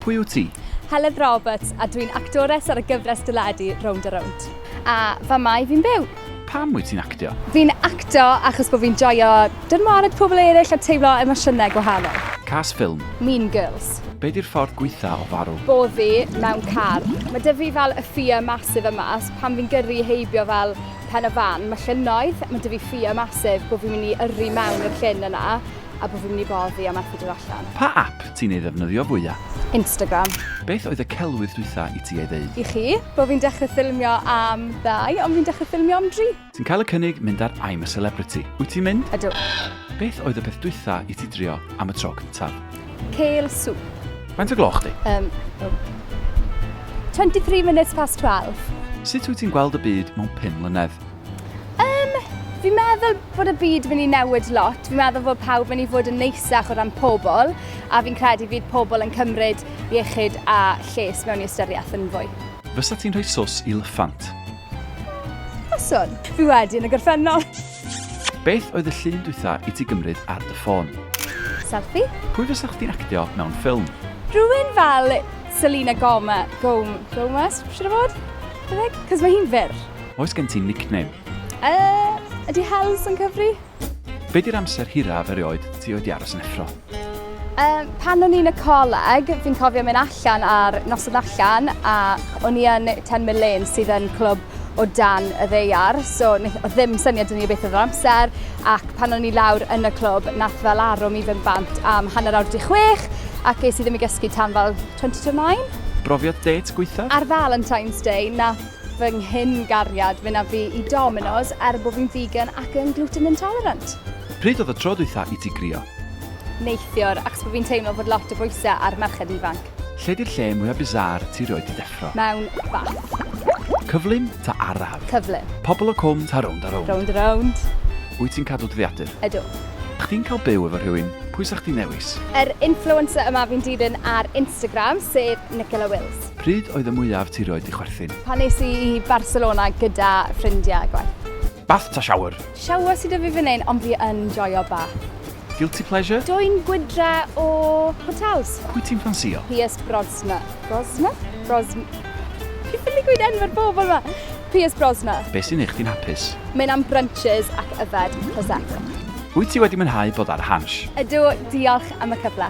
Pwy wyt ti? Heledd Roberts a dwi'n actores ar y gyfres deledu Rownd a Rownd. A fa mae fi'n byw. Pam wyt ti'n actio? Fi'n actio achos bod fi'n joio dynwared pobl eraill a teimlo emosiynau gwahanol. Cas ffilm. Mean Girls. Be di'r ffordd gweitha o farw? Boddi mewn car. Mae dy fi fel y ffia masif yma, so pan fi'n gyrru heibio fel pen y fan, mae llynnoedd, mae dy fi ffia masif bod fi'n mynd i yrru mewn i'r llyn yna. a bo' fi'n mynd i bo' fi a methu dod allan. Pa ap ti'n ei ddefnyddio fwya? Instagram. Beth oedd y celwydd dwytha i ti ei ddeud? I chi, bo' fi'n dechre ffilmio am ddau, ond fi'n dechre ffilmio am dri. Ti'n cael y cynnig mynd ar I'm a Celebrity, wyt ti'n mynd? Ydw. Beth oedd y peth dwytha i ti drio am y tro cyntaf? Kale soup. Faint o gloch di? Yym, o. 23 minutes past twelve. Sut wyt ti'n gweld y byd mewn pum mlynedd? Um, fi'n meddwl bod y byd yn mynd i newid lot. Fi'n meddwl bod pawb yn mynd i fod yn neisach o ran pobl, a fi'n credu fydd pobl yn cymryd iechyd a lles mewn i ystyriaeth yn fwy. Fysa ti'n rhoi sos i lyffant? Faswn. Fi wedi yn y gorffennol. Beth oedd y llun dwytha i ti gymryd ar dy ffôn? Selfie. Pwy fysa chdi'n actio mewn ffilm? Rhywun fel Selena Goma, Gom, Gomez, siwr o fod? Cos mae hi'n fyr. Oes gen ti nickname? Uh, ydy Hels yn cyfri? Be di'r amser hiraf erioed ti oed i aros yn effro? Um, pan o'n i'n y coleg, fi'n cofio mynd allan ar noson allan a o'n i yn 10 mil lane sydd yn clwb o dan y ddeiar, so oedd ddim syniad yn ni beth oedd yr amser, ac pan o'n i lawr yn y clwb, nath fel arwm i fynd bant am hanner awr di chwech, ac es i ddim i gysgu tan fel 20 to 9. Brofiad det gweithaf? Ar Valentine's Day, nath fy nghyn-gariad mynd â fi i Domino's er bod fi'n vegan ac yn gluten intolerant. Pryd oedd y tro dwytha i ti grio? Neithiwr, achos bod fi'n teimlo bod lot o bwysau ar merched ifanc. Lle 'di'r lle mwya bizarre ti 'rioed 'di deffro? Mewn bath. Cyflym ta araf? Cyflym. Pobl o Cwm ta rownd a rownd? Rownd a rownd. Wyt ti'n cadw dyddiadur? Ydw. Chdi'n cael byw efo rhywun, pwy 'sa chdi'n ddewis? Yr influencer yma fi'n dilyn ar Instagram, sef Nicola Wills. Pryd oedd y mwyaf ti rioed di chwerthin? Pan nes i i Barcelona gyda ffrindiau a gwaith. Bath ta shower? Shower sy 'da fi fan hyn ond fi yn joio bath. Guilty pleasure? Dwyn gwydre o hotels. Pwy ti'n ffansïo? Pierce Brosna. Brosna? Brosn... Fi ffili gweud enw'r bobl 'ma! Pierce Brosna. Be sy'n neu chdi'n hapus? Mynd am brunches ac yfed prosecco. Wyt ti wedi mwynhau bod ar Hansh? Ydw, diolch am y cyfle.